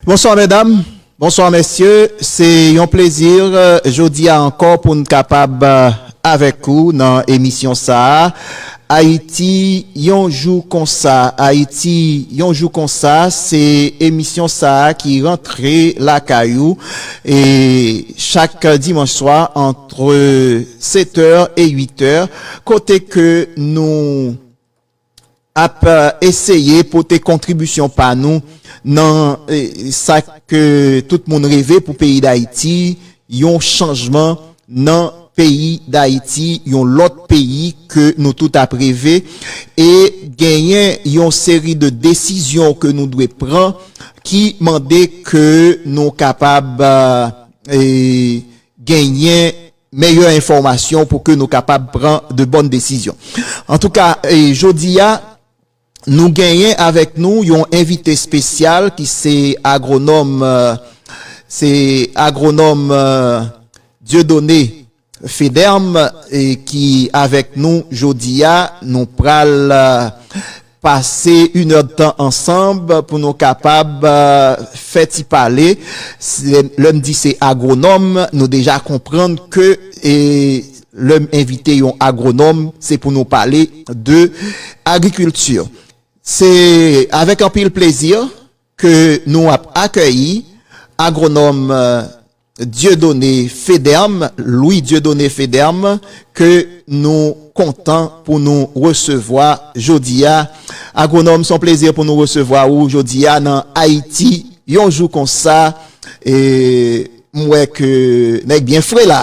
Bonswa mèdam, bonswa mèsye, se yon plezi jodi a ankò pou n kapab avèk ou nan emisyon sa a, Ayiti yon jou konsa, Ayiti yon jou konsa, se emisyon sa a ki rantre lakay ou e chak dimanch swa antre 7 è e 8 è kote ke nou. ap eseye pote kontribisyon pa nou nan sa ke tout moun reve pou peyi Dayiti, yon chanjman nan peyi Dayiti, yon lòt peyi ke nou tout ap reve. E genyen yon seri de desizyon ke nou dwe pran ki mande ke nou kapab genyen meyè enfòmasyon pou ke nou kapab pran de bòn desizyon. Antouka, jodi a, nou genyen avèk nou yon envite espesyal ki se agwonòm, se agwonòm Dieudonné Federme ki avèk nou jodi a, nou pral. Pase yn èdtan ansanb pou nou kapab fè ti pale. Lè m di se agwonòm, nou deja konprann ke lè m envite yon agwonòm, se pou nou pale de agrikilti. Se avèk anpil plezi ke nou ap akèyi agwonòm. Dieudonné Federme, Louis Dieudonné Federme, ke nou kontan pou nou resevwa jodi a. Agwonòm, s on plezi pou nou resevwa ou jodi a nan Ayiti yon jou konsa. M wè ke nèg byen fre la.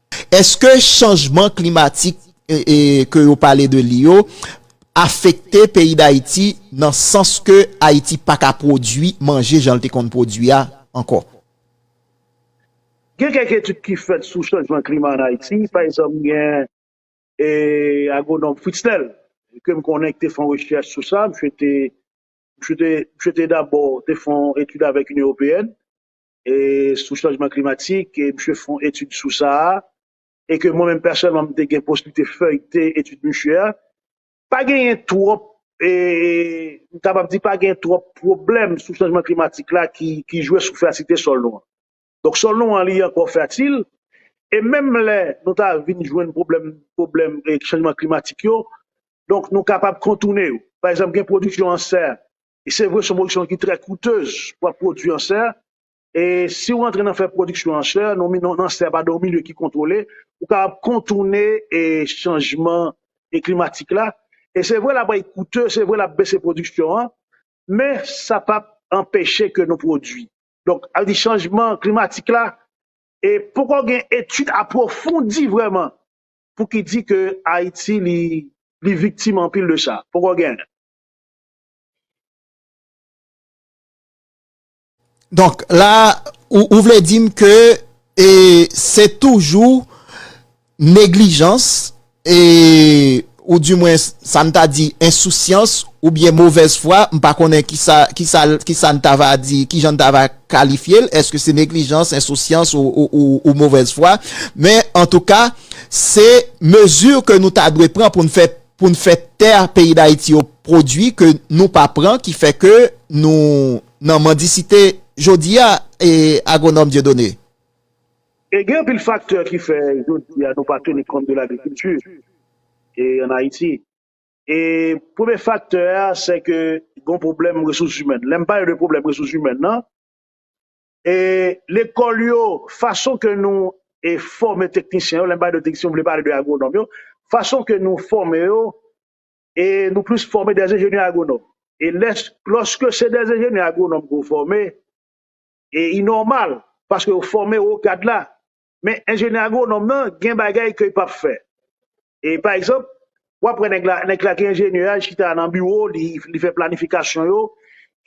Eske chanjman klimatik ke yo pale de li yo afekte peyi Dayiti nan sans ke Ayiti pa ka pwodwi manje jan l te konn pwodwi a ankò? Gen kèk etid ki fèt sou chanjman klima an Ayiti. Pa egzanp, gen agwonòm Fritznel ke m konnen ki te fè yon rechèch sou sa. Misye te dabò te fè yon etid avèk Inyon Ewopeyèn sou chanjman klimatik e misye fè yon etid sou sa a e ke mwen menm pèsonèlman m te gen posiblite feyte etid misye a, pa genyen twòp e m kapab di pa genyen twòp pwoblèm sou chanjman klimatik la ki jwe sou fèasilite sòl nou an. Donk sòl nou an li ankò fèatil e menm lè nou ta vin jwenn pwoblèm pwoblèm chanjman klimatik yo donk nou kapab kontoune yo. Pa egzanp gen pwodiksyon ansè e se vre son pwodiksyon ki trè koutez pou ap pwodui an sè, e si ou antre nan fè pwodiksyon an sè nan nan sè padan yon milye ki kontwole ou kapab kontoune e chanjman e klimatik la, e se vre l ap bay koute se vre l ap bese pwodiksyon an men sa pap anpeche ke nou pwodui donk al di chanjman klimatik la e poko gen etid apwofondi vreman pou ki di ke Ayiti li li viktim anpil de sa poko gen. Donk la ou vle dim ke e se toujou neglijans e ou di mwen sa n ta di ensousyans ou byen movèz fwa m pa konnen ki sa ki sa ki sa n ta va di ki jan n ta va kalifye l eske se neglijans ensousyans ou movèz fwa men antouka se mezi ke nou ta dwe pran pou n fè pou n fè tè peyi dayiti yo pwodwi ke nou pa pran ki fè ke nou nan mandisite jodi a e agwonòm Dieudonné? E gen anpil faktè ki fè jodi a nou pa teni kont de lagrikilti e an ayiti e premye faktè a se ke gon pwoblèm resous imèn lè m pale de pwoblèm resous imèn nan E lekòl yo, fason ke nou e fòme teknisyen yo, lè m pale de teknisyen m vle pale de agwonòm yo, fason ke nou fòme yo e nou plis fòme dè enjenyè agwonòm. E lè lòske se dè enjenyè agwonòm ke w fòme e i nòmal paske yo fòme o kad la men enjenyè agwonòm nan gen bagay ke l p ap fè. E pa egzanp, w ap wè nèg la, nèg la ki enjenyè a, li chita nan biwo l, li fè planifikasyon yo,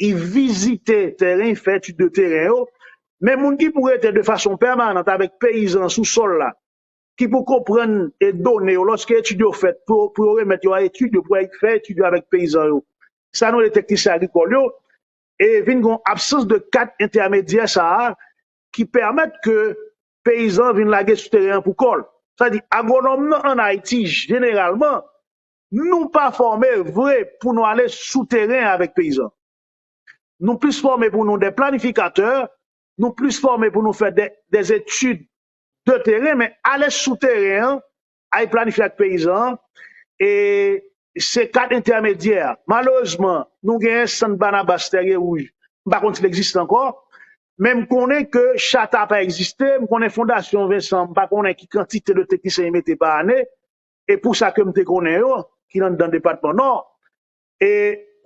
li vizite tèren, li fè etid de tèren yo, men moun ki pou rete de fason pèmanant avèk peyizan sou sòl la, ki pou konprann done yo lòske etid yo fèt, pou yo remèt yo a etid yo, pou yo fè etid yo avèk peyizan yo, sa nou rele teknisyen agrikòl yo, e vin gen yon absans de kad entèmedyè sa a ki pèmèt ke peyizan an vin lage sou teren an pou kò l. Sa di agwonòm nan an Ayiti jeneralman nou pa fòme vre pou nou ale sou teren avèk peyizan. Nou plis fòme pou nou de planifikatè, nou plis fòme pou nou fè de etid de teren men ale sou teren an ay planifye ak peyizan an e se kat entèmedyè a malerezman nou genyen sant Banabas Tèrye Wouj m pa konn si l egziste ankò men m konnen ke chata pa egziste m konnen fondasyon Vensan m pa konnen ki kantite de teknisyen yo mete pa ane e pou sa ke m te konnen yo ki anndan depatman Nò e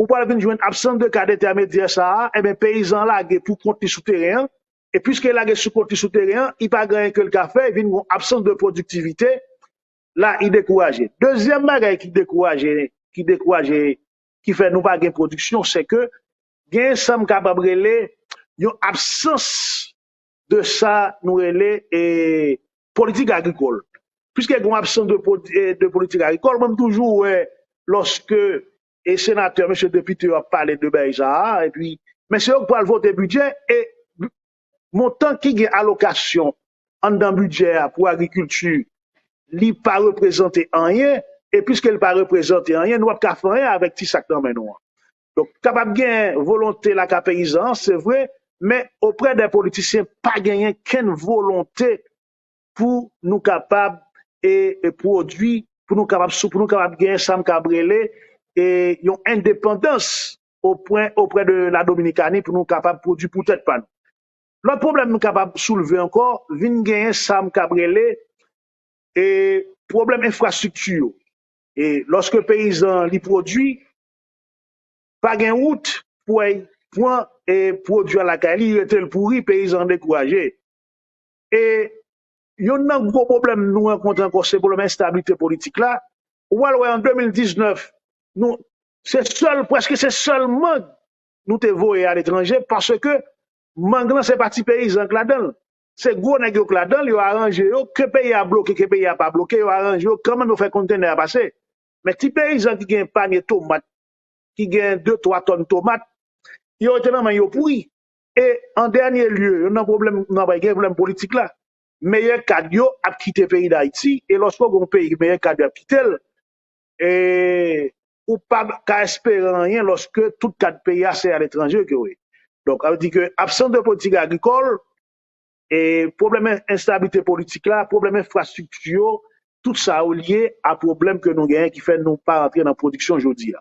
ou pral vin jwenn absans de kad entèmedyè sa a enben peyizan an lage pou kont li sou teren an e pwiske li lage sou kont li sou teren an, li pa gen anyen ke li ka fè, vin gen yon absans de pwodiktivite, la li dekouraje. Dezyèm bagay ki dekouraje, ki dekouraje, ki fè nou pa gen pwodiksyon, se ke gen sa m kapab rele yon absans de sa nou rele e politik agrikòl. Pwiske gen yon absans de politik agrikòl, mwen m toujou wè lòske e senatè mesye depite yo ap pale de bèy sa a epi men se yo k pral vote bidjè e montan ki gen alokasyon anndan bidjè a pou agrikilti li pa reprezante anyen e piske li pa reprezante anyen nou pap ka fè anyen avèk ti sa k nan men nou an donk kapab gen volonte lakay peyizan an se vre men oprè dè politisyen pa genyen kenn volonte pou nou kapab e pwodui, pou nou kapab sou, pou nou kapab gen sa m kab rele e yon endepandans opwen oprè de la Dominikani pou nou kapab pwodui pou tèt pa nou. Lòt pwoblèm nou kapab soulve ankò vin genyen sa m kab rele e pwoblèm enfrastrikti yo. E lòske peyizan li pwodui, pa gen wout pou al pran e pwodui a lakay li, rete l pouri, peyizan an dekouraje. e yonn nan gwo pwoblèm nou rankontre ankò se pwoblèm enstabilite politik la, ou pral wè an 2019 nou se sèl prèske se sèl mang nou te voye aletranje paske mang lan se pa ti peyizan k ladan l, se gwo nèg yo k ladan l, yo aranje yo ke peyi a bloke ke peyi a pa bloke yo aranje yo kòman yo fè kontenè a pase men ti peyizan ki gen panye tomat ki gen de twa tòn tomat yo rete nan men yo pouri. E an dènye lye, youn nan pwoblèm nou ap bay gen pwoblèm politik la. Meyè kad yo ap kite peyi Dayiti e lòske w gen yon peyi ke meyè kad yo ap kite l, ou pa ka espere anyen lòske tout kad peyi a se aletranje ke yo ye. Donk, sa vle di ke absans de politik agrikòl, pwoblèm enstablite politik la, pwoblèm enfrastrikti yo, tout sa yo lye a pwoblèm ke nou genyen ki fè nou pa rantre nan pwodiksyon jodi a.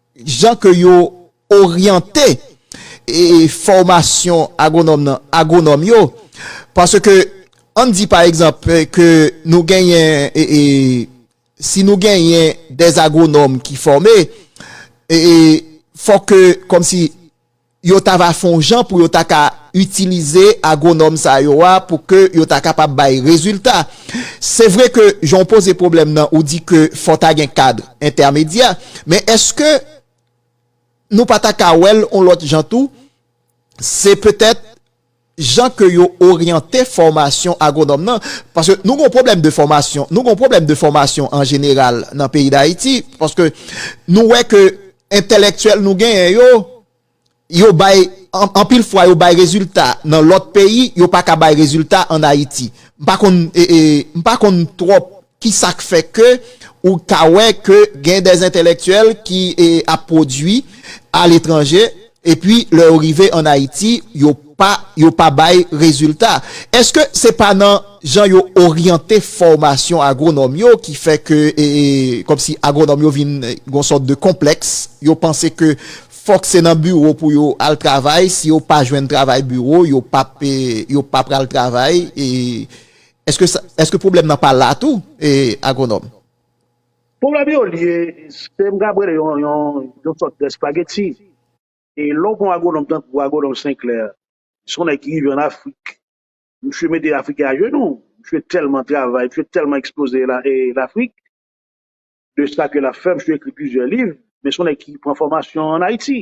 Jan ke yo oryante fòmasyon agwonòm nan, agwonòm yo, paske ann di pa egzanp ke nou genyen, si nou genyen dè agwonòm ki fòme, fòk ke kòmsi, yo ta va fon jan pou yo ta ka itilize agwonòm sa yo a pou ke yo ta kapab bay rezilta. Se vre ke jan w poze pwoblèm nan ou di ke fò ta gen kadr entèmedyè, men eske nou pa ta ka wè l on lòt jan tou, se petèt, jan ke yo oryante fòmasyon agwonòm nan, paske nou gon pwoblèm de fòmasyon, nou gon pwoblèm de fòmasyon an jeneral nan peyi Dayiti, paske nou wè ke entèlèktyèl nou genyen yo, yo bay, anpil fwa yo bay rezilta nan lòt peyi, yo pa ka bay rezilta an Ayiti. M pa konn, m pa konn twòp. Ki sa k fè ke ou ka wè ke gen dè entèlèktyèl ki ap pwodui aletranje, epi lè yo rive ann Ayiti, yo pa, yo pa bay rezilta? Èske se pa nan jan yo oryante fòmasyon agwonòm yo ki fè ke, kòmsi agwonòm yo vin gen yon sòt de konplèks, yo panse ke fòk se nan biwo pou yo al travay, si yo pa jwenn travay biwo, yo p ap, yo pa pral travay? Eske pwoblèm nan pa la tou agwonòm? Pwoblèm yo lye, se m kab rele yon sòt de espageti. E lè w pran yon agwonòm tankou agwonòm Senklè, se yon nèg ki rive an Afrik, misye mete Afriken ajenou, misye tèlman travay, misye tèlman ekspoze Lafrik, de sa ke l ap fè, misye ekri plizyè liv, men se yon nèg ki pran fòmasyon an Ayiti.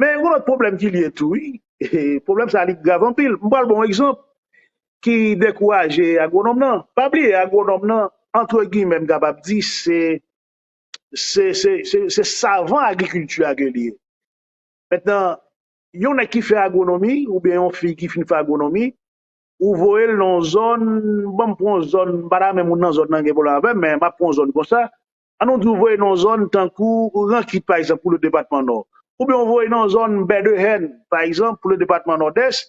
Men yon lòt pwoblèm ki lye tou wi, pwoblèm sa li grav anpil. M pral ba w yon egzanp ki dekouraje agwonòm nan. Pa bliye agwonòm nan antre gimè m kapab di se se savan agrikilti a ke li ye. Mentnan yon nèg ki fè agwonomi oubyen yon fi ki fin fè agwonomi, ou voye l nan yon zòn, ban m pran yon zòn, m pa ta menm moun nan zòn nan gen pwoblèm avè m men m ap pran yon zòn konsa, An nou di ou voye nan yon zòn tankou Rankit pa egzanp pou le depatman Nò, oubyen ou voye nan yon zòn Bèdehèn pa egzanp pou le depatman Nòdès,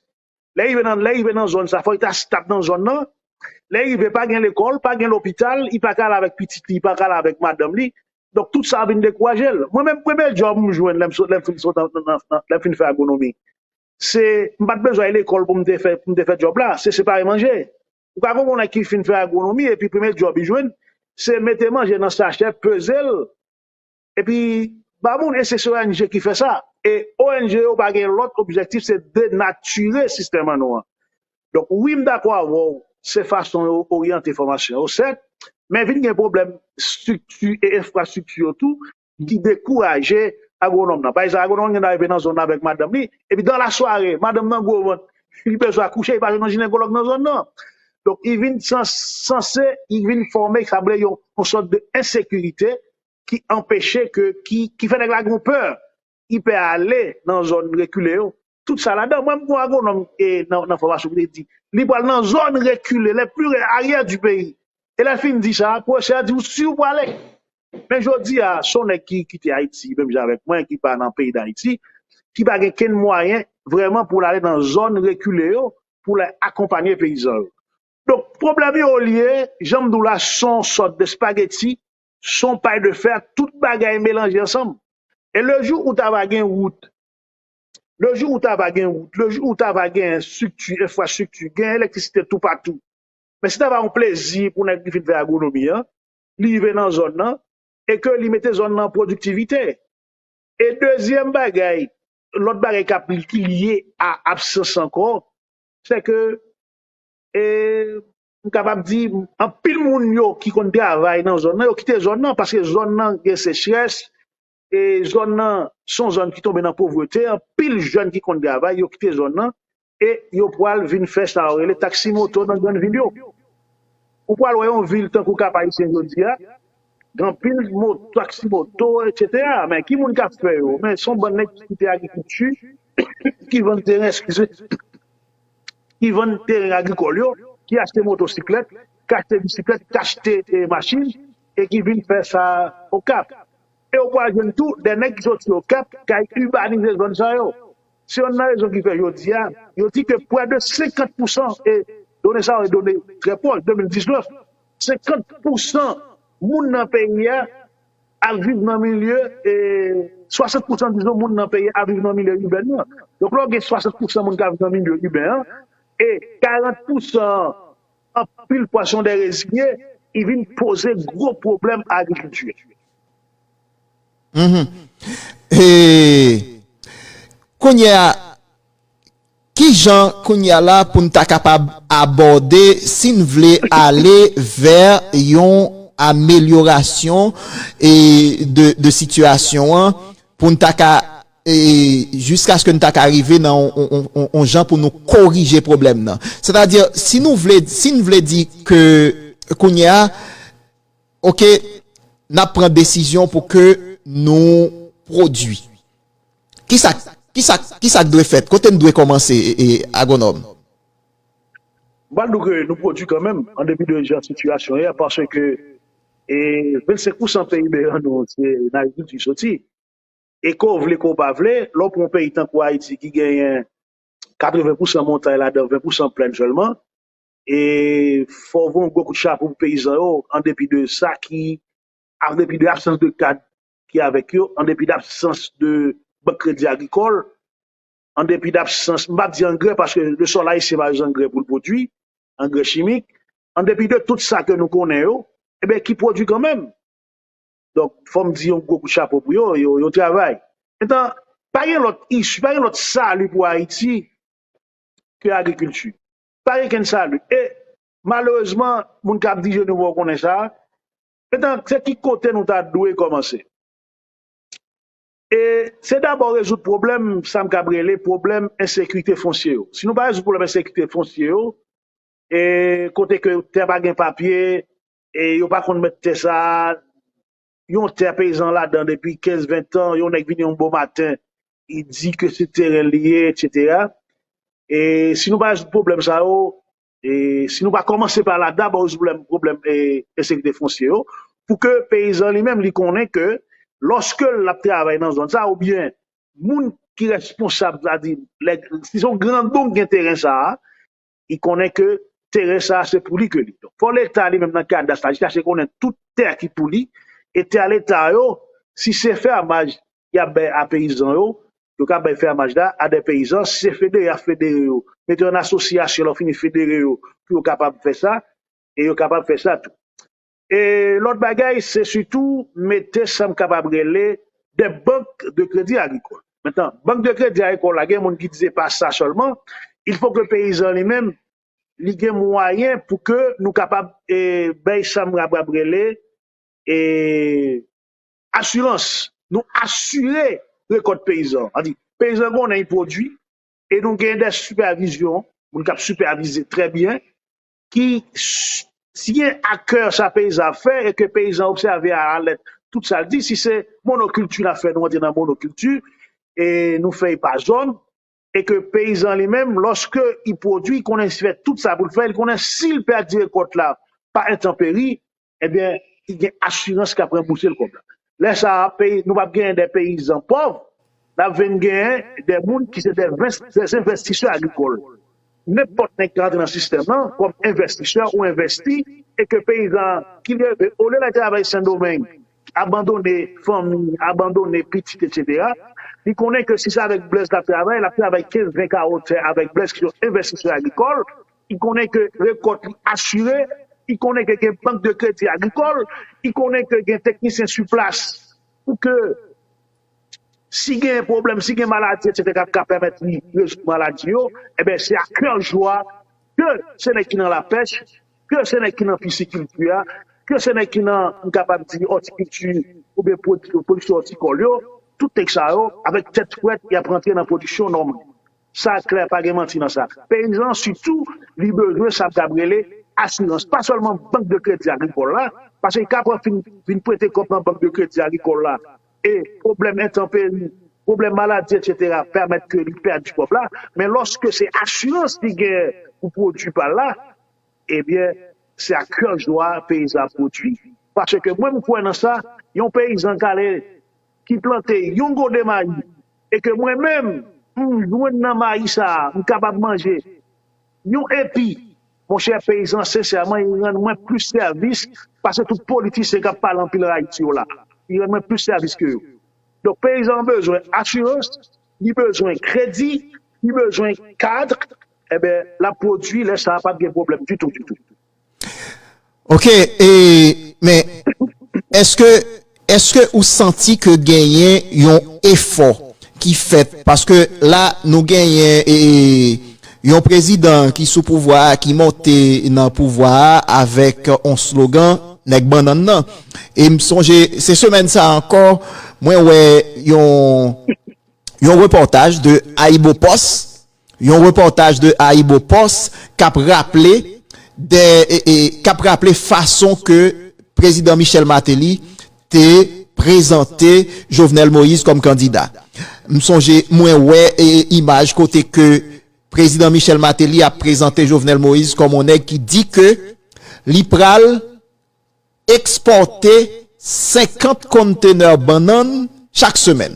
lè rive nan lè rive nan zòn sa fòk li ta stab nan zòn nan, lè rive pa gen lekòl, pa gen lopital, li pa ka al avèk pitit li, li pa ka al avèk madanm li, donk tout sa vin dekouraje l. Mwen menm premye djòb m jwenn lè m sot lè m fin sot nan nan nan lè m fin fè agwonomi se m pa t bezwen lekòl pou m te fè pou m te fè djòb la se separe manje. Ou ka konprann nèg ki fin fè agwonomi epi premye djòb li jwenn se mete manje nan sachè, peze l epi ba moun e se se ong ki fè sa. E ong yo pa gen lòt objektif se denatire sistèm an nou an. Donk wi m dakò avè w se fason yo oryante fòmasyon yo sèt men vin gen pwoblèm estrikti e enfrastrikti yo tou. ki dekouraje agwonòm nan. Pa egzanp, agwonòm nan gen dwa rive nan zòn nan avèk madanm li, epi dan la sware, madanm nan gwo vant, li bezwen akouche, li pa jwenn yon jinekòlòg nan zòn nan. Donk, li vin sanse, li vin fòme sa vle yon sòt de ensekirite ki anpeche ke, ki fè nèg la gen yon pè. ki pè ale nan zòn rekile yo. Tout sa ladan. Mwen menm gon agwonòm nan fòmasyon ki te di li pral nan zòn rekile, les plus arrière du pays. E lè l fin di sa, pwofesè a di ou si ou prale? Men jodi a, s on nèg ki kite Ayiti menm jan avèk mwen ki pa nan peyi Dayiti, ki pa gen kenn mwayen vrèman pou l ale nan zòn rekile yo pou l al akonpanye peyizan yo. Donk pwoblèm yo olye, jan m di w la, s on sòt de spageti Son pay de fer tout bagay melanje ansanm e le jou ou ta va gen wout le jou ou ta va gen wout le jou ou ta va gen estrikti enfrastrikti gen elektrisite tou patou men se ta va yon plezi pou nèg ki fin fè agronomi an li rive nan zòn nan e ke li mete zòn nan an pwodiktivite e dezyèm bagay lòt bagay k ap ki lye a absans ankò se ke e. m kapab di anpil moun yo ki konn travay nan zòn nan yo kite zòn nan paske zòn nan gen sechrès e zòn nan son zòn ki tonbe nan povrete anpil jèn ki konn travay yo kite zòn nan e yo pwal vin fè sa yo rele taksi moto nan grann vil yo ou pwal wè yon vil tankou kap ayisyen jodi a gen anpil mot taksi moto etsetera men ki moun kap fè yo men son bann nèg ki kite agrikilti ki vann teren eskize. ki vann teren agrikòl yo, ki achte motosiklèt, ki achte bisiklèt, ki achte machin e ki vin fè sa Okap. E ou pral jwenn tou de nèg ki soti Okap ki al ibanize zòn sa yo. Se yonn nan rezon ki fè jodi a, yo di ke pwè de 50 pousan, e done sa yo e done trè pwòch, 2019, 50 pousan moun nan peyi a ap viv nan milye, 60 pousan dizon moun nan peyi ap viv nan milye iben nan. Donk lè w gen 60 pousan moun k ap viv nan milye iben an, e 40 pousan an anpil fwa se yon dè reziye, li vin poze gwo pwoblèm a agrikilti a. Kounye a, Ki jan kounye a la pou n ta kapab abòde si n vle ale vè yon amelyorasyon de sitiyasyon an pou n ta ka jiskaske n ta ka rive nan yon jan pou nou korije pwoblèm nan? Sètadi, si nou vle, si n vle di ke kounye a, oke, n ap pran desizyon pou ke nou pwodui. Kisak kisak kisak dwe fèt? Kote n dwe kòmanse Agwonòm? M pral di w ke nou pwodui kanmenm an depi de jan sitiyasyon ye a paske 25 pousan PIB an nou se nan agrikilti li soti e ke w vle ke w pa vle lè w pran yon peyi tankou Ayiti ki genyen 80 pousan montay ladan 20 pousan plèn sèlman e fò w voye yon gwo kout chapo pou peyizan yo an depi de sa ki an depi de absans de kad ki avèk yo, an depi dabsans de bank kredi agrikòl, an depi dabsans, m pa di angrè paske le sòl ayisyen pa zangrè pou l pwodui, angrè chimik, an depi de tout sa ke nou konnen yo, e ben ki pwodui kanmenm. Donk, fò m di yon gwo kout chapo pou yo, yo travay. Etan, pa gen lòt isu, pa gen lòt sali pou Ayiti ke agrikilti. Pa gen kenn sali. E malerezman, moun k ap dirije nou fè w konnen sa, Etan, se ki kote nou ta dwe kòmanse? E se dabò rezoud pwoblèm sa m kab rele pwoblèm ensekite fonsye yo. Si nou pa rezoud pwoblèm ensekite fonsye yo, e kote ke tè pa gen papye, e yo pa konn mèt tè sa a, yon tè peyizan ladan depi 15, 20 tan, yon nèg vini yon bon maten, li di ke se teren li ye, etsetera. E si nou pa rezoud pwoblèm sa yo, e si nou pa kòmanse pa la dabò rezoud pwoblèm ensekirite fonsye yo pou ke peyizan li menm li konnen ke lòske l ap travay nan zòn sa oubyen moun ki responsab sa di lè si son grandon ki gen teren sa a li konnen ke teren sa a se pou li ke li donk fò leta li menm nan kadas la li chache konnen tout tè ki pou li e tè leta yo si se fè a maj y ap bay a peyizan yo, yo ka bay fèmaj la a dè peyizan, si se federe y ap federe yo, mete yo an asosyasyon lè yo fini federe yo pou yo kapab fè sa e yo kapab fè sa tou. E lòt bagay se sitou mete sa m kapab rele dè bank de kredi agrikòl. Mentan bank de kredi agrikòl la gen moun ki di se pa sa sèlman, il fò ke peyizan li menm li gen mwayen pou ke nou kapab e bay sa m kapab rele e Asirans, Nou asire rekòt peyizan. Sa vle di peyizan konnen li pwodui e nou gen dè sipèvizyon, moun k ap sipèvize trè byen ki siyen akè sa peyizan ap fè e ke peyizan an obsève a la lèt tout sa l di. Si se monokilti l ap fè, nou rantre nan monokilti e nou fè li pa zòn e ke peyizan li menm lòske li pwodui, li konnen li fè tout sa pou l fè, li konnen si l pèdi rekòt la pa entanperi ebyen li gen asirans kap ranbousel kòb la. Lè sa a peyi nou pap genyen dè peyizan pòv, nap vin genyen dè moun ki se dè vens dè zenvestisè agrikòl. Nenpòt nèg ka rantre nan sistèm lan kòm envèstisè ou envèsti e ke peyizan an ki leve olye lal travay sendomeng abandone fanmi, abandone pitit etsetera li konnen ke si se avèk Blaise lap travay lap travay kenz ven kawo tè avèk Blaise ki se yon envèstisè agrikòl. ki konnen ke rekòt li asire, ki konnen ke gen bank de kredi agrikòl, ki konnen ke gen teknisyen su plas pou ke si gen pwoblèm, si gen maladi etc. Ki ka pèmèt li rezoud maladi yo, eben se a kè jwa ke se nèg ki nan la pèch, ke se nèg ki nan pisikilti a, ke se nèg ki nan m kapab di òtikilti ou byen pwodiksyon òtikòl yo, tout nèg sa yo avèk tèt frèt y ap rantre nan pwodiksyon nòmal. Sa klè pa gen manti nan sa. Peyizan an sitou li bezwen sa m kab rele asirans pa sèlman bank de kredi agrikòl la paske kap ap vin prete kòb nan bank de kredi agrikòl la e pwoblèm entanperi, pwoblèm maladi etsetera pèmèt ke li pèdi kòb la men lòske se asirans li gen pou pwodui pa l la ebyen se ak kè jwa peyizan ap pwodui paske mwen m kwè nan sa yon peyizan k ale ki plante yon gode mayi e ke mwen menm m jwenn nan mayi sa a m kapab manje yon epi monchè peyizan sensèman li rann mwen plis sèvis pase tout politisyen k ap pale anpil an Ayiti yo la a li rann mwen plis sèvis ke yo donk peyizan an bezwen asirans li bezwen kredi li bezwen kad enben l ap pwodui lè sa a p ap gen pwoblèm ditou ditou. Ok, e men eske eske ou santi ke genyen yon efò ki fèt paske la nou genyen e yon prezidan ki sou pouvwa a ki monte nan pouvwa a avèk yon slogan nèg bannann nan e m sonje se semèn sa ankò mwen wè yon yon repòtaj de Ayibopost Yon repòtaj de AyiboPost k ap raple de k ap raple fason ke Prezidan Michel Martelly te prezante Jovenel Moïse kòm kandida. M sonje mwen wè imaj kote ke Prezidan Michel Martelly ap prezante Jovenel Moïse kòm on nèg ki di ke li pral ekspòte 50 konntenè bannann chak semèn.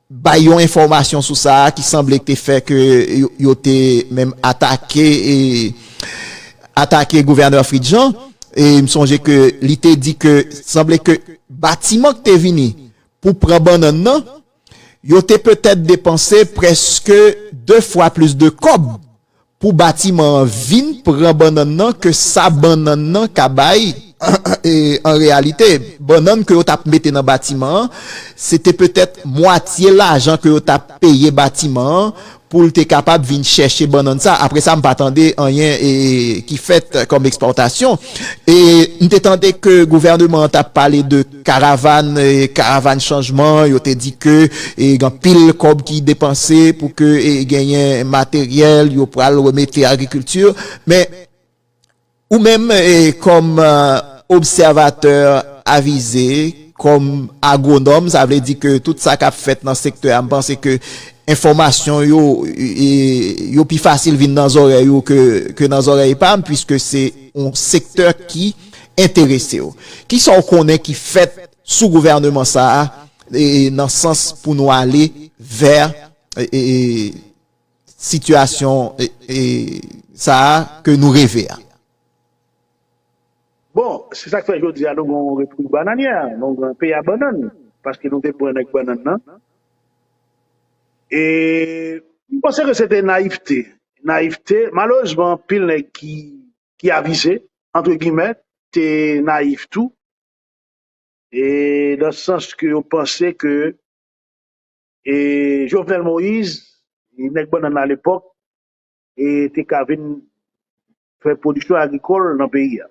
bay yon enfòmasyon sou sa a ki sanble te fè ke yo te menm atake atake gouvènè Fritz Jean e m sonje ke li te di ke sanble ke batiman ki te vini pou pran bannann nan yo te petèt depanse prèske 2 fwa plis de kòb Pou batiman an vin pran bannann nan ke sa bannann nan ka bay, an reyalite, bannann ke yo t ap mete nan batiman an, se te petèt mwatye lajan ke yo t ap peye batiman an pou l te kapab vin chèche bannann sa. Apre sa, m pa tande anyen ki fèt kòm ekspòtasyon. E m te tande ke gouvèneman an t ap pale de. Karavann Karavann chanjman yo te di ke gen anpil kòb ki depanse pou ke genyen materyèl yo pral remete agrikilti men ou menm kòm obsèvatè avize kòm agwonòm sa vle di ke tout sa kap fèt nan sektè a m panse ke enfòmasyon yo yo pi fasil vin nan zòrèy ou ke nan zòrèy pa m pwiske se yon sektè ki enteresew. Kisa w konnen ki fèt sou gouvèneman sa a nan sans pou nou ale vè sitiyasyon sa a ke nou reve a? Bon, se sak fè jodi a nou gen yon repwiblik bananyè, nou gen yon peyi a bannann, paske nou te pran nèg bannann nan. E m panse ke se te nayivte, nayivte, malerezman anpil nèg ki. ki avize, antre gimè, te nayif tou, e nan sans ke yo panse ke e Jovenel Moïse, e nèg bannann la alepòk, e te ka vin fè pwodiksyon agrikòl nan peyi a.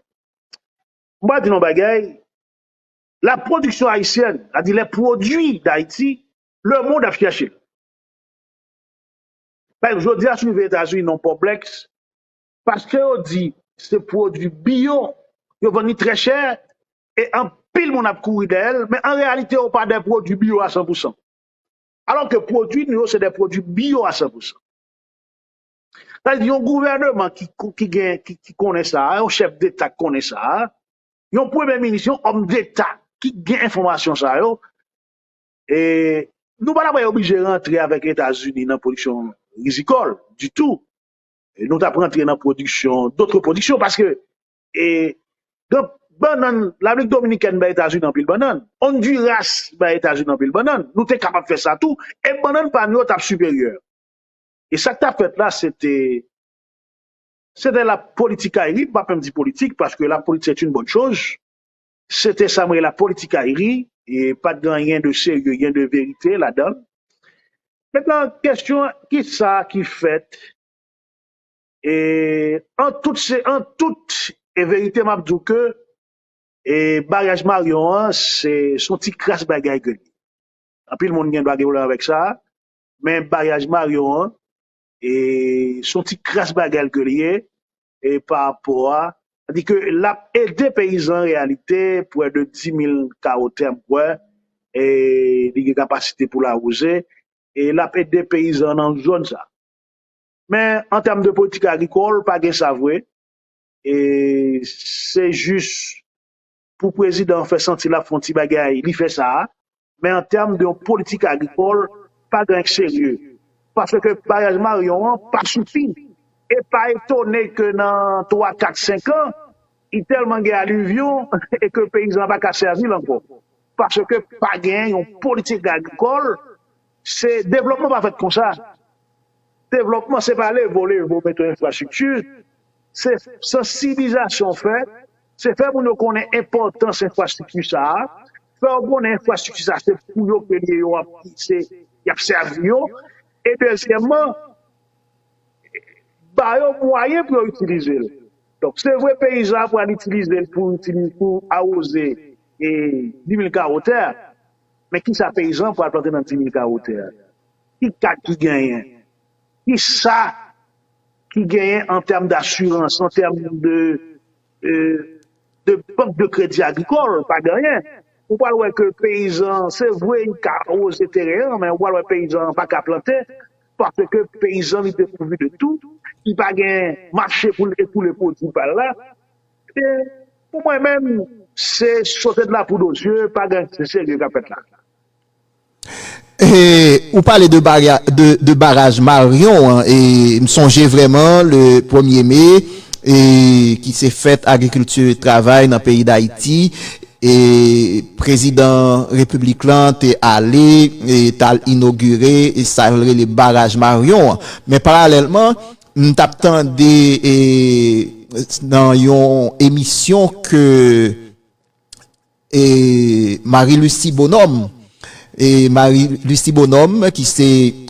M pral di nou yon bagay, la pwodiksyon ayisyèn, sa di lè pwodui Dayiti, lemond ap chèche l. Pa ekzanp, jodi a si nou rive Etazini nan yon pò Blèks, paske yo di se pwodui biyo, yo vann li trè chè e anpil moun ap kouri dèyè l, men an reyalite yo pa de pwodui biyo a san pou san. Alò ke pwodui nou yo se de pwodui biyo a san pou san. Sa vle di yon gouvèneman ki gen, ki konnen sa, yon chèf deta ki konnen sa, yon premye minis, yon òm deta ki gen enfòmasyon sa yo, e nou pa ta pral oblije rantre avèk Etazini nan pwodiksyon rizikòl ditou, nou tap rantre nan pwodiksyon dotre pwodiksyon paske e gen bannann labrik dominikèn bay etazini anpil bannann ondiras bay etazini anpil bannann nou te kapab fè sa tou e bannann pa nou yo tap siperyè e sak tap fèt la se te se te la politikayri m pa menm di politik paske la politik se t yn bòn choz Se te sa m rele politikayri, e pat gen anyen de serye, gen de verite ladan l. Mentnan kesyon ki sa ki fèt e an tout se an tout e verite m ap di w ke e maryaj Maryon an se s on ti kras bagay ke l ye. Anpil moun gen dwa gen pwoblèm avèk sa, men maryaj Maryon an e son ti kras bagay ke li ye e pa rapò a sa di ke lap ede peyizan an reyalite pwè de 10000 kawo tè m kwè e li gen kapasite pou l awoze e lap ede peyizan nan zòn sa men an tèm de politik agrikòl pa gen sa vre e se jis pou prezidan an fè santi l ap fè yon ti bagay, li fè sa a, men an tèm de yon politik agrikòl, pa gen anyen k serye. Paske baraj Maryon an pa sifi. E pa etone ke nan twa, kat, senkan, li tèlman gen alivyon e ke peyizan an pa ka sèvi l ankò. Paske pa gen yon politik agrikòl, se devlòpman pa fèt konsa. Devlòpman se pa leve w leve w mete yon enfrastrikti, se sansibilizasyon w fè. Se fè moun yo konnen enpòtans enfrastrikti sa a, fè yo konnen enfrastrikti sa a se pou yo ke li ye, yo ap ki se y ap sèvi yo e dezyèmman ba yo mwayen pou yo itilize l. Donk se vre peyizan an pral itilize l pou itilize pou awoze e dimil kawo tè a men kisa peyizan an pral plante nan dimil kawo tè a? Ki kad ki genyen? Ki sa ki genyen an tèm d'assurance, an tèm de bank de kredi agrikòl? Pa gen anyen. Ou pral wè ke peyizan an, se vre li ka awoze teren an, men ou pral wè peyizan an pa ka plante, paske peyizan li depourvu de tou, li pa gen mache pou l ekoule pwodui pa l la. E, pou mwen menm, se sote de la poud o zye, pa gen anyen ki serye k ap fèt la. Ou pale de baraj Maryon an, m sonje vrèman le premye me ki se fèt agrikilti travay nan peyi Dayiti, prezidan repiblik lan te ale, te al inogire sa yo rele baraj Maryon an. Men paralèlman, m t ap tande nan yon emisyon ke... E Marie Lucie Bonhomme E Marie Lucie Bonhomme ki se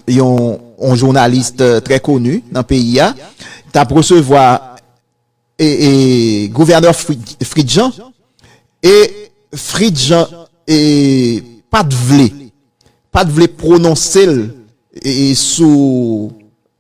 yon yon journalist trè koni nan peyi a tap resevwa e e gouvènè Fritz Jean e Fritz Jean e pat vle pat vle pwononse l e sou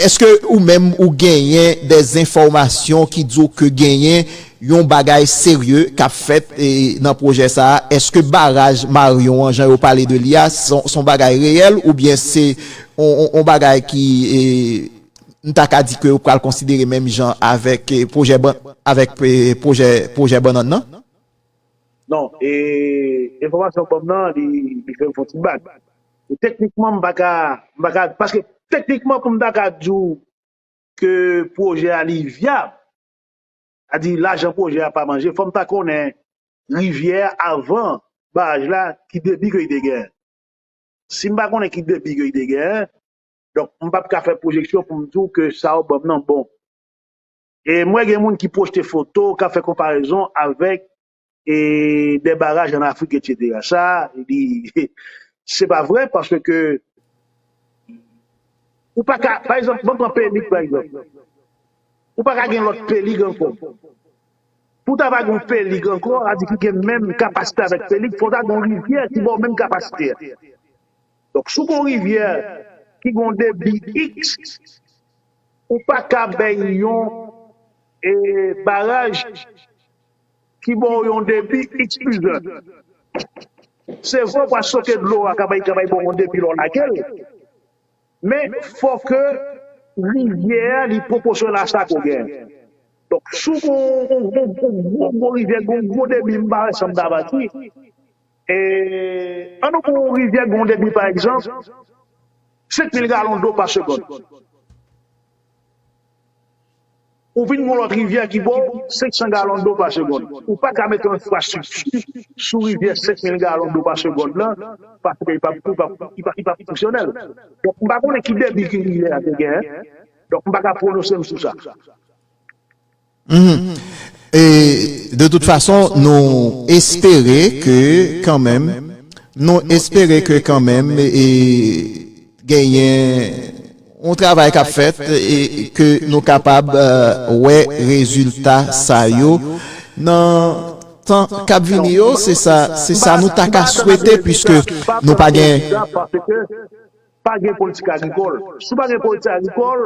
Eske ou menm ou genyen de zenfòmasyon ki di w ke genyen yon bagay serye k ap fèt nan pwojè sa a? Eske baraj Maryon an jan yo pale de li a se yon bagay reyèl oubyen se yon bagay ki m ta ka di ke yo pral konsidere menm jan avèk pwojè bannann nan? Non, e enfòmasyon ou ban m nan li fè m fè yon ti bak. E teknikman m pa ka, m pa ka, paske teknikman pou m ta ka di w ke pwojè a li vyab, a di lajan pwojè a pa manje, fò m ta konnen rivyè a avan baraj la ki debi ke li te gen. Si m pa konnen ki debi ke li te gen, donk m pap ka fè pwojeksyon pou m di w ke sa ou ban m nan bon. E m wè gen moun ki pwojte foto, k ap fè konparezon avèk e dè baraj an Afrik etc. Sa li se pa vre paske ke ou pa ka pa egzanp banm pran P-lig pa egzanp ou pa ka gen lòt P-lig ankò. Pou ta va gon P-lig ankò sa di ki gen menm kapasite avèk P-lig fò ta gon rivyè ki baw menm kapasite a. Donk si w gon rivyè ki gon debi iks ou pa ka bay yon e baraj. Ki ba w yon depi xpizè. Se vre ou pa soke dlo a ka bay bon yon depi lè w lage l, men fò ke rivyè a li pwoposyonèl a sa ke w gen. Donk si w gen yon gwo gwo rivyè ki gen yon gwo debi, m pa wè sa m ta va di. E an nou pran yon rivyè ki gen yon debi pa egzanp 5 mil galon dlo pa segond. Ou vin gen yon lòt rivyè ki ba w 500 galon dlo pa segonn. Ou pa ka mete yon enfrastrikti sou rivyè 5000 galon dlo pa segonn lan paske li p ap fonksyonèl. Donk, m pa konnen ki debi ke rivyè a te genyen. Donk, m pa ka pwononse m sou sa. E, de tout fason, nou espere ke kanmenm, nou espere ke kanmenm e. Genyen yon travay k ap fèt e ke nou kapab wè rezilta sa yo nan tan k ap vini yo. Se sa, se sa nou ta ka swete puiske nou pa gen. Paske pa gen politik agrikòl. Si w pa gen politik agrikòl,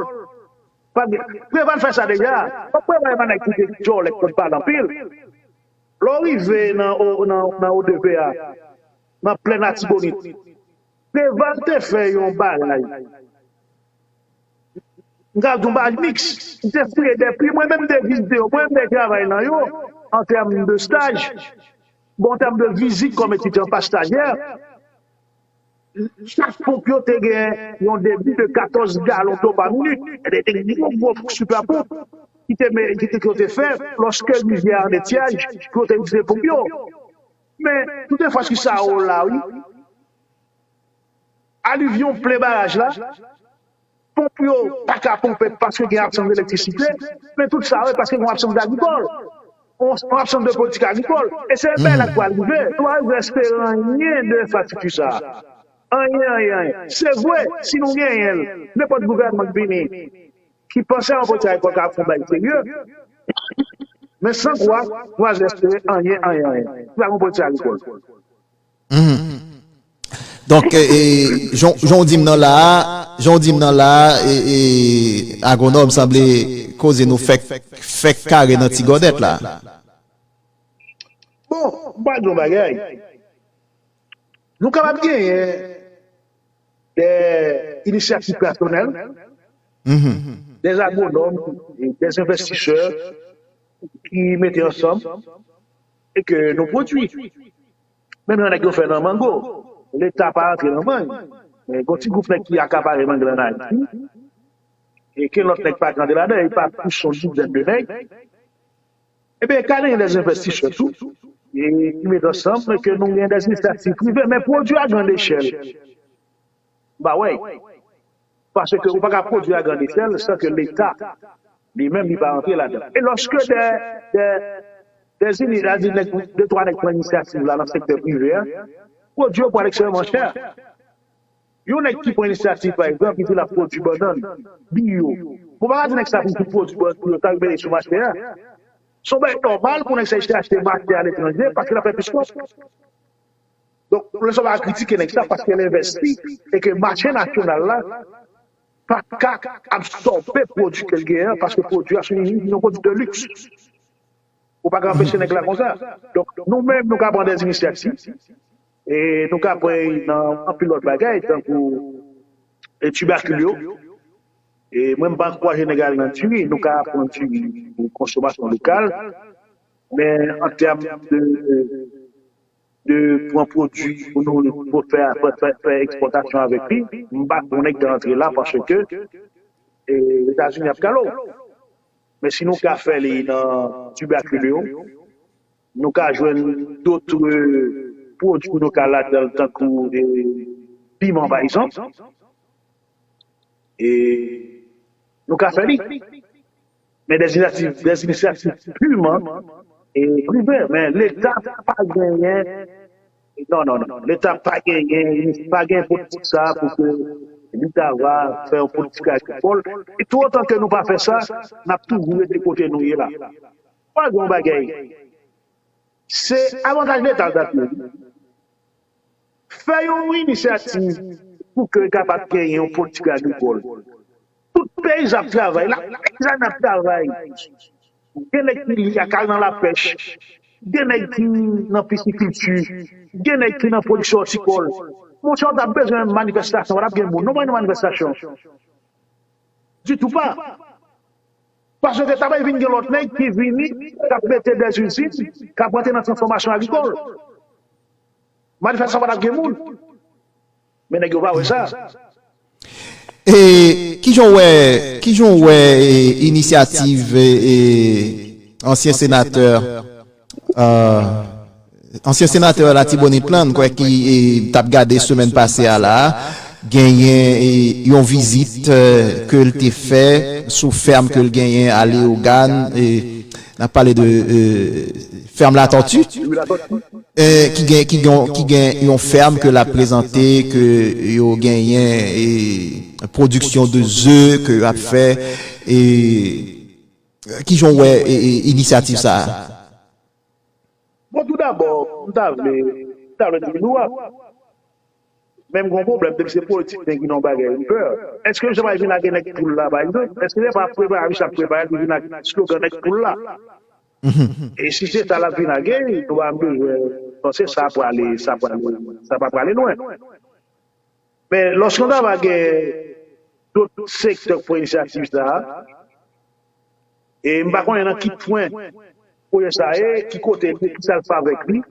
pa gen. Preval fè sa deja. Fòk Preval epa nèg ki te djòlè ki konn pale anpil. Lè w rive nan nan odp a, nan plèn Atibonit. Preval te fè yon bagay, m ka di yon bagay miks, li te fouye 2 pi, mwen menm m te vizite yo, mwen menm m te travay nan yo an tèm de staj, bon an tèm de vizit kòm etidyan pa stajyè, chak ponp yo te gen yon debi de 14 galon dlo pa minit, e de te gen gwo gwo sipè ponp ki te fè lòske rivyè a an etyaj pou yo te itilize ponp yo. Men tout enfrastriksa yo la wi. Alivyon plen baraj la, ponp yo pa ka ponpe paske gen absans elektrisite, men tout sa yo e paske gen yon absans de agrikòl, yon absans de politik agrikòl. E se menm bagay la ki pral rive. Nou pa bezwen espere anyen de enfrastrikti sa a. Anyen, anyen, anyen. Se vre, si nou genyen l, nenpòt gouvènman k vini, ki panse anbotiyay poko ap yon bagay serye, men san kwa, nou pa janm espere anyen, anyen, anyen. Li pa gen anbotiyay lekòl. Donk, jan w di m nan la a, jan w di m nan la a, Agwonòm, sanble koze nou fèk, fèk kare nan ti gòdèt la. Bon, m pral di w yon bagay. Nou kapab genyen dè inisyativ pèsonèl, dè agwonòm, dè envestisè ki mete ansanm e ke nou pwodui. Menm jan nèg yo fè nan mango, leta pa rantre nan mang, men gon ti gwoup nèg ki akapare mang lan nan Ayiti, e ken lòt nèg pa k rantre ladan, e pa plis yon dizèn de nèg, Ebyen ka genyen dè envestisè tou ki met ansanm ke nou genyen dè inisyativ prive men pwodwi a grand echèl m pa wè y. Paske ou pa ka pwodwi a grand echèl san ke leta li menm li pa rantre ladan. E lòske dè dè ini a di nèg de twa nèg pran inisyativ la nan sektè prive a pwodwi yo pral ekstrèmman chè. Yon nèg ki pran inisyativ pa egzanp li di lap pwodui bannann, biyo, bon pa ka di nèg sa pou l tou pwodui bannann pou yo ta rimele sou mache a. Se yon bagay nòmal pou nèg sa eseye achte mache aletranje paske lap fè plis kòb. Donk lè sa w pa ka kritike nèg sa paske l envèsti e ke mache nasyonal la pa ka absòbe pwodui ke l genyen an paske pwodui a se yon pwodui de liks. Ou pa ka anpeche nèg la konsa. Donk nou menm nou ka pran dè inisyativ. E nou ka pran y nan anpil lòt bagay tankou tibakil yo. E mwen m pa ankouraje nèg ale nan diri, nou ka pran diri pou konsomasyon lokal, men an tèm de pran pwodui pou nou fè ekspòtasyon avèk li, m pa kwè nèg ta antre la paske Etazini ap kale w. Men si nou ka fè li nan tibakil yo. Nou ka jwenn dotre pwodwi nou ka ladanl tankou piman pa egzanp e nou ka fè li men dè inisiyativ dè inisiyativ piman e privè men leta pa genyen non non non leta pa genyen pa gen politik sa a pou ke li ta va fè yon politik agrikòl e tou otan ke nou pa fè sa nap toujou rete kote nou ye la. Pa gen yon bagay. Se avantaj leta l t ap ye wi. Fè yon inisyativ pou ke kapab gen yon politik agrikòl. Tout peyizan ap travay, la peyizane ap travay. Gen nèg ki li a k al nan lapèch, gen nèg ki nan pisikilti, gen nèg ki nan pwodiksyon òtikòl. Monchè w t ap bezwen manifèstasyon, pa t ap gen moun non pou al nan manifèstasyon. Ditou pa. Paske ta pral vin gen lòt nèg ki vini k ap mete dè izin, k ap rantre nan transfòmasyon agrikòl. Manifestasyon pa t ap gen moun. Men nèg yo pa wè sa. E ki jan w wè, ki jan w wè inisyativ ansyen senatè Ansyen senatè Latibonit lan, m kwè ki t ap gade semèn pase a la, genyen yon vizit ke l te fè sou fèm ke l genyen a Leyogàn, n ap pale de fèm Latòti, ki gen yon fèm ke l ap prezante ke yo genyen pwodiksyon de ze ke yo ap fè. Kijan w wè inisyativ sa a? Bon tou dabò m ta vle m ta vle di nou ap men m gen yon pwoblèm depi se politik nèg vin nan yon bagay m pè èske jan bay vin lage nèg poul la pa egzanp èske se pa preparasyon sa prepare pou vin ak slogan nèg poul la e si se sa l ap vin lage nou pa bezwen panse sa prale sa prale sa pa prale lwen. Men, lòske yon ta va gen dòt sektè ki pran inisyativ sa a, e m pa konnen nan ki pwen pwojè sa a ye, ki kote l ye, ki sa l fè avèk li,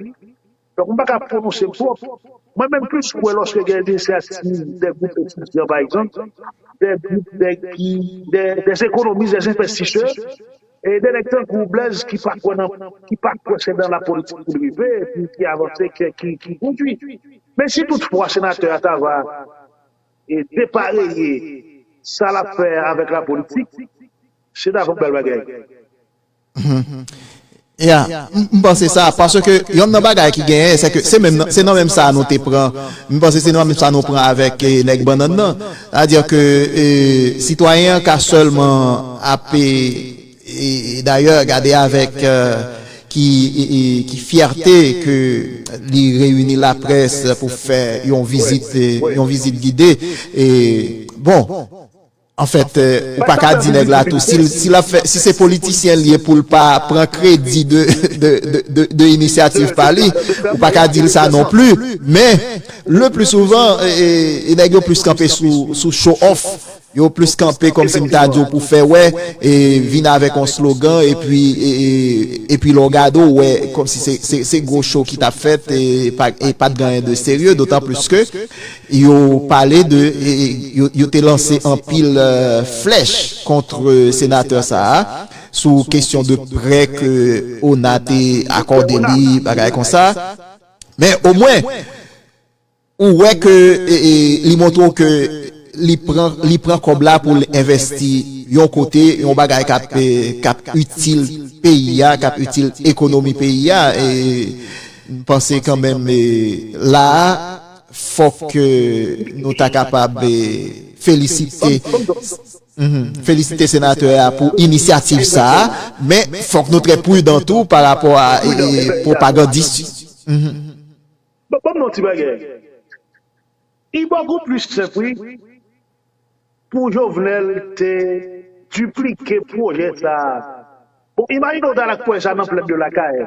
donk m pa ka pwononse m twòp. Mwen menm plis kwè lòske gen inisyativ dè gwoup etidyan, pa egzanp, dè gwoup nèg ki, dè ekonomis, dè envestisè, E de nèg tankou Blaise ki pa kwè nan ki pa kwè se nan la politik pou l rive e pou l ki avanse kè ki ki kondwi. Men si tout fwa senatè a ta va e depareye sa l ap fè a avèk la politik se ta van bèl bagay. Ya, m panse sa paske yonn nan bagay ki genyen se ke se menm nan se nan menm sa a nou te pran m panse se nan menm sa a nou pran avèk nèg bannann nan. Sa dire ke sitwayen an ka selman ap e dayè gade avek ki fyète ke li reyini laprès pou fè yon vizit yon vizit gide e bon an fèt ou pa ka di nèg la tou si lap fè si se politisyen li ye poul pa pran kredi de inisyativ pa li ou pa ka dil sa non pli men Le plus souvent e nèg yo plus kanpe sou show off, yo plus kanpe kòmsi m ta di w pou fè wè, e vin avèk on slogan epi epi lè w gade w wè kòmsi se gwo show ki t ap fèt e pat gen anyen de serye dotan plus ke yo pale de yo te lanse anpil flèch kontr senatè sa a sou kesyon de prè ke ona te akòde li bagay konsa. Men omwen ou wè ke li montre w ke li pran kòb la pou l envèsti yon kote, yon bagay k ap itil peyi a, k ap itil ekonomi peyi a. M panse kanmenm la a fòk nou ta kapab felisite. M felisite senatè a pou inisyativ sa a, men fòk nou trè prudan tou pa rapò a pwopagandis yo. Bon banm yon ti bagay ibòg ou plis senp wi pou jovenel te diplike pwojè sa bon imajine ou tal ak pwojè sa nan plèn de lakay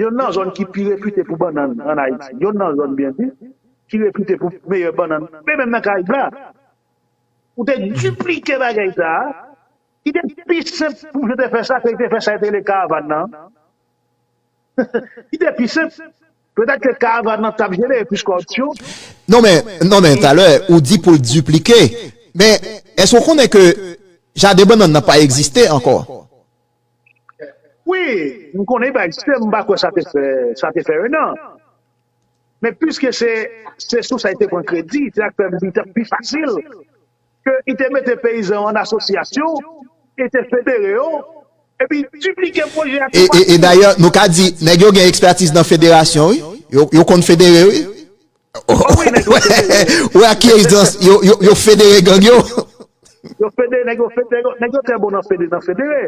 yonn nan zòn ki pi repite pou bannann an ayiti yonn nan zòn byen di ki repite pou meyè bannann menm nan karayib la. Ou te diplike bagay sa, ki te pi senp pou misye te fè sa ke li te fè sa ki te rele karavan nan. Ki te pi senp. Petèt ke karavan nan tap jenere plis kòripsyon. Non men, non men, talè ou di pou l diplike, men èske ou konnen ke jaden bannann nan pa egziste ankò? Wi, m konnen li pa egziste, m pa kwè sa te fè, sa te fè 1 an. Men piske se se sou sa li te pran kredi, se sa k fè m di li t ap pi fasil ke li te mete peyizan yo an asosyasyon e te federe yo epi diplike pwojè a tou pati. E dayè nou ka di nèg yo gen ekspètiz nan federasyon wi, yo konn federe wi. O wi nèg yo federe. Ou wè ak ki ejzans yo federe gang yo. Yo federe, nèg yo federe, nèg yo trè bon nan federe.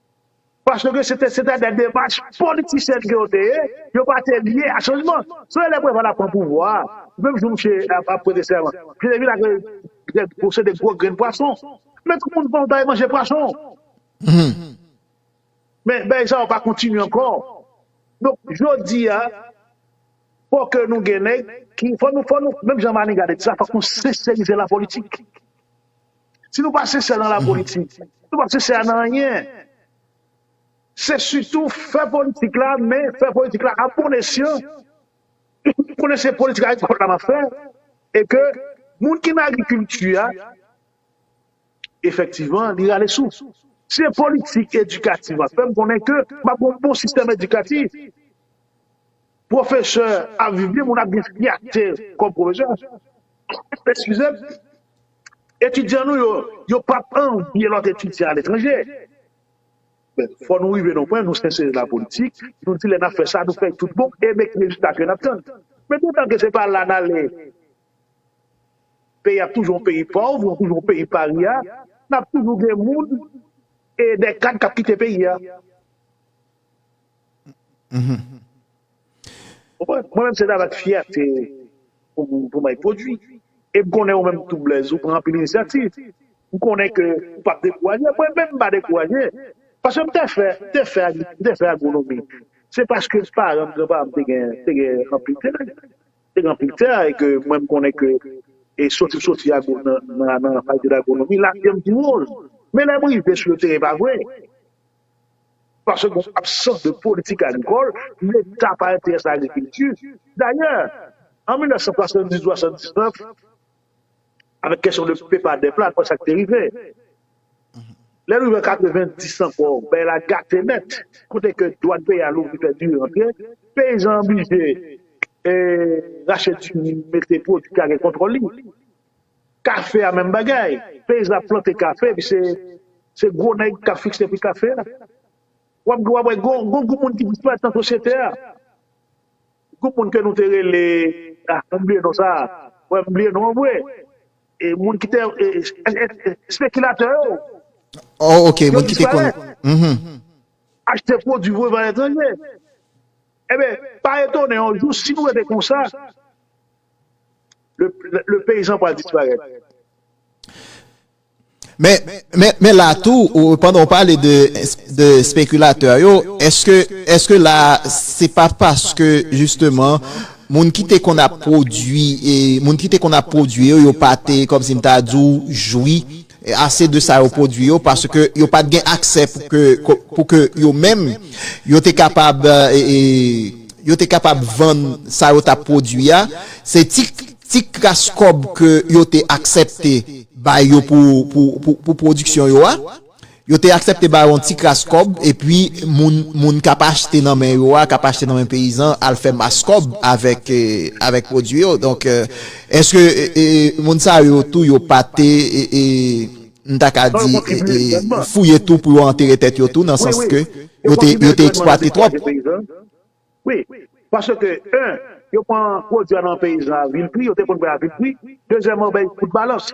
Paske se te se te de demach politisyèn ke yo te ye, yo pa te lye a chanjman. Se lè Preval ap pran pouvwa a, menm jou misye ap ap prete sèman, misye te vin ak de gwo se de gwo grenn pwason. Men tout moun fon w ta ye manje pwason. Men bèy sa yo pa kontinye ankò. Donk jodi a, fò ke nou gen nèg ki fò nou fò nou menm jan Maniga te di sa fòk nou senserize lapolitik. Si nou pa sensè nan lapolitik, si nou pa sensè nan anyen, se sitou fè politik la, men fè politik la a bon esyan, tout konnen se politik agrikòl la m ap fè, e ke moun ki nan agrikilti a, efektivan, li rale sou. Si se politik edikatif m ap fè, m konnen ke m ap gen yon bon sistèm edikatif. Pwofesè ap viv byen, moun ap gen fyète kòm pwofesè. Eskize m, etidyan nou yo, yo p ap anvye lòt etidyan aletranje. Men, fò nou rive nan yon pwen, nou sensere nan lapolitik, nou di lè n ap fè sa, nou fè l tout bon e men ki rezilta ke n ap tann. Men toutan ke se pa la n ale, peyi a ap toujou yon peyi pòv, nou toujou yon peyi parya, n ap toujou gen moun e dè kad k ap kite peyi a. Ou konprann? Mwen menm se travay ak fyète pou m bay pwodui. E m konnen ou menm tou Blaise ou pran anpil inisyativ. M konnen ke ou pa p dekouraje. Mwen menm m pa dekouraje. Paske m te fè, m te fè agri, m te fè agwonomi. Se paske paran m, gran paran m te gen, te gen anpil tè. Te gen anpil tè e ke mwen m konnen ke e soti m soti agwo nan nan fakilte dagwonomi, lavi an m pi woz. Men lè m rive sou le teren e pa vre. Paske gen yon absans de politik agrikòl, leta pa enterese nan agrikilti. Dayè, an 1970 ou 79, avèk kesyon de pepa dèp la, nou wè sa k te rive. Lè n rive an 90 ankò, bagay la gate nèt, kote ke dwàn peyi a louvri fè diri rantre, peyizan an blije rache diri, mete pwodui ki ka gen kontwòl li. Kafe a menm bagay, peyizan ap plante kafe epi se gwo nèg k ap fikse pri kafe a. W ap dwa wè gen yon gwoup moun ki disparèt nan sosyete a. Gwoup moun ke nou te rele, ah mwen bliye non sa, wè m bliye non an vre. E moun ki te, espekilatè yo. Oh ok, moun ki te konn, mh. Achte pwodui voye bay etranje. Enben, pa etone yon jou si nou rete konsa. Le peyizan pral disparèt. Men, men, men la tou, pandan ou pale de, de spekilatè yo, èske, èske la a, se pa paske jisteman, moun ki te konn ap pwodui, moun ki te konn ap pwodui yo, yo pa te, kòmsi m ta di w, jwi, ase de sa yo pwodui yo paske yo pa t gen aksè pou ke yo menm yo te kapab yo te kapab vann sa yo t ap pwodui a se ti kras kòb ke yo te aksèpte bay yo pou pwodiksyon yo a yo te aksèpte bay yo yon ti kras kòb epi moun k ap achte nan men yo a k ap achte nan men peyizan al fè mas kòb avèk pwodui yo donk. Eske moun sa yo tou yo pa te, m ta ka di, fouye tou pou yo antere tèt yo tou nan sans ke yo te eksplwate twòp? Wi, paske 1, yo pran pwodui a nan peyizan a vil pri, yo te konn pran a vil pri, dezyèman yo bay kout balans.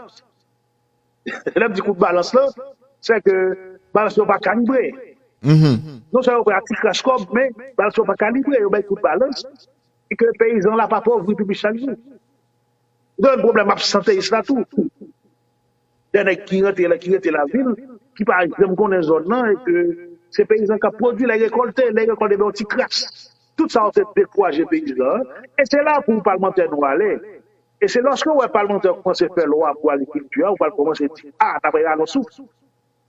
Lè m di kout balans lan, se ke balans yo pa kalibre. Non sèlman yo pran ti kras kòb, men balans yo pa kalibre. Yo bay kout balans ki ke peyizan la pa pòvri pi plis chak jou. Gen pwoblèm absanteyis la tou. Gen nèg ki rantre la, ki rete lavil, ki pa janm konnen zòn nan e ke se peyizan k ap pwodui, lè rekòlte, lè rekòlte gen yon ti kras. Tout sa yo te dekouraje peyizan an e se la pou palmantè nou ale. E se lòske ou wè palmantè yo koumanse fè lwa pou agrikilti a ou pral koumanse di a ta pral rale yon souf.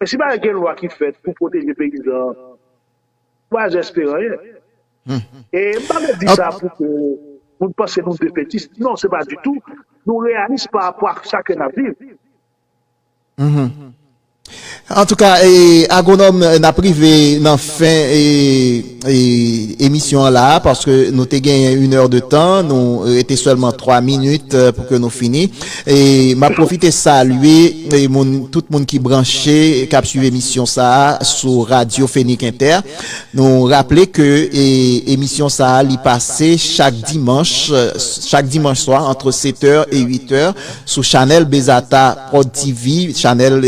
Men si pa gen lwa ki fèt pou pwoteje peyizan an, lwa zè espere anyen. E m pa vle di sa pou ke moun panse nou defetis, non se pa ditou, nou reyalis pa rapò ak sa ke n ap viv. Antouka agronòm nap rive nan fen emisyon an la a paske nou te genyen yn èr de tan nou rete sèlman 3 minit pou ke nou fini map pwofite salye moun tout moun ki branche kap swiv emisyon sa a sou radyo fenik entè nou raple ke emisyon sa a li pase chak dimanch chak dimanch swa antre 7 èr e 8 èr. Sou chanèl Bezata Prod TV, chanèl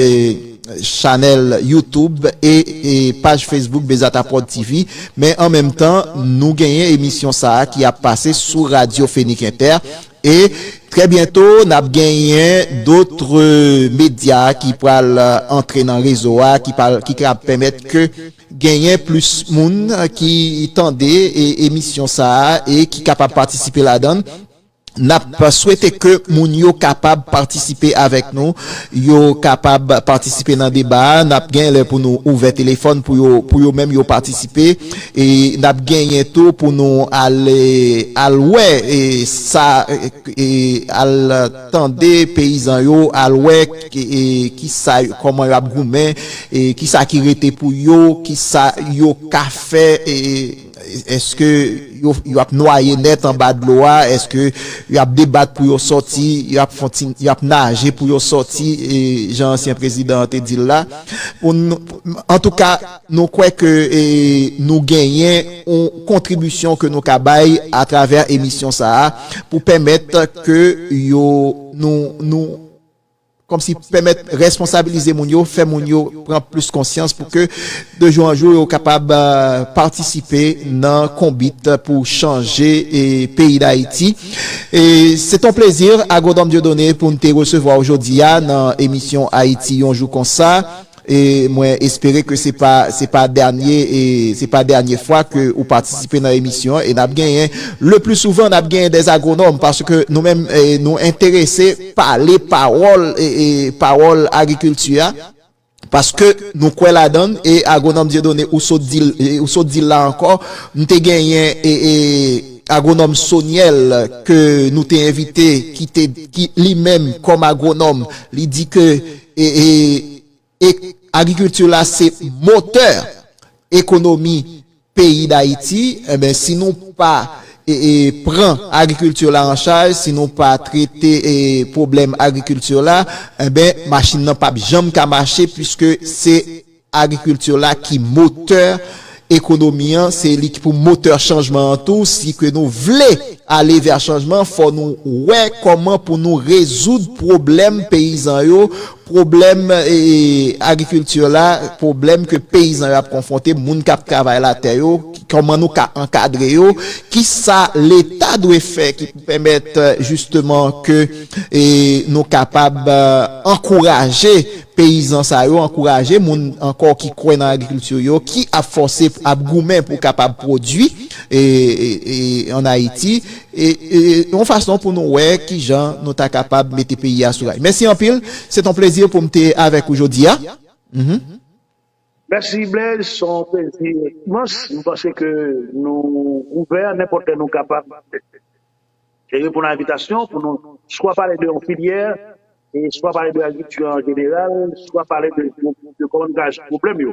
chanèl YouTube e e paj Facebook Bezata Prod TV. Men an menm tan, nou genyen emisyon sa a ki ap pase sou Radio Fenix Inter. E trè byento, n ap genyen dotre medya ki pral antre nan rezo a, ki pral ki kab pèmèt ke genyen plis moun ki tande e emisyon sa a e ki kapab patisipe ladan l. N ap swete ke moun yo kapab patisipe avèk nou, yo kapab patisipe nan deba a. N ap gen lè pou nou ouvè telefòn pou yo, pou yo menm yo patisipe. E n ap genyen tou pou nou ale, al wè sa, al tande peyizan yo, al wè ki sa, kòman yo ap goumen, ki sa ki rete pou yo, ki sa yo ka fè. Eske yo ap nwaye nèt anba dlo a? Eske yo ap debat pou yo sòti? Yo ap naje pou yo sòti, jan ansyen prezidan an te di l la? Antouka, nou kwè ke nou genyen yon kontribisyon ke nou ka bay atravè emisyon sa a pou pèmèt ke yo nou. Kòmsi pèmèt responsabilize moun yo, fè moun yo pran plis konsyans pou ke de jou an jou yo kapab patisipe nan konbit pou chanje peyi Dayiti. Se te yon plezi Agronòm Dieudonné pou n te resevwa w jodi a nan emisyon Ayiti yon jou konsa. E mwen espere ke se pa se pa dènye e se pa dènye fwa ke ou patisipe nan emisyon an e n'ap genyen le pli souvan n'ap genyen des agronòm paske nou menm nou enterese pale pawòl e pawòl agrikilti a paske nou kwè ladann e agronòm Dieudonné ou sot di l ou sot di l la ankò m'te genyen e agronòm Soniel ke nou te envite ki te ki li menm kòm agronòm li di ke e agrikilti la se motè ekonomi peyi dayiti enben si nou pa pran agrikilti la an chaj si nou pa trete pwoblèm agrikilti la enben machin nan pap janm ka mache pwiske se Agriculture la ki motè ekonomi an, se li ki pou motè chanjman an tou, si ke nou vle ale vè chanjman, fò nou wè kòman pou nou rezoud pwoblèm peyizan yo, pwoblèm agriculture la, pwoblèm ke peyizan yo ap konfwonte, moun kap travay latè yo, kòman nou ka ankadre yo, ki sa leta dwe fè ki pou pèmèt jisteman ke nou kapab ankouraje. Peyizan sa yo ankouraje moun ankò ki kwè nan agrikilti yo ki ap fòse ap goumen pou kapab pwodui an Ayiti yon fason pou nou wè ki jan nou ta kapab mete peyi a sou ray. Mèsi anpil. Se t on plezi pou m te avèk ou jodi a. Mèsi Blaise, s on plezi imans. M panse ke nou ouvè nenpòt lè nou kapab reponn a envitasyon pou nou swa pale de yon filyè e swa pale de agrikti an jeneral, swa pale de gwo, de gwo graj pwoblèm yo.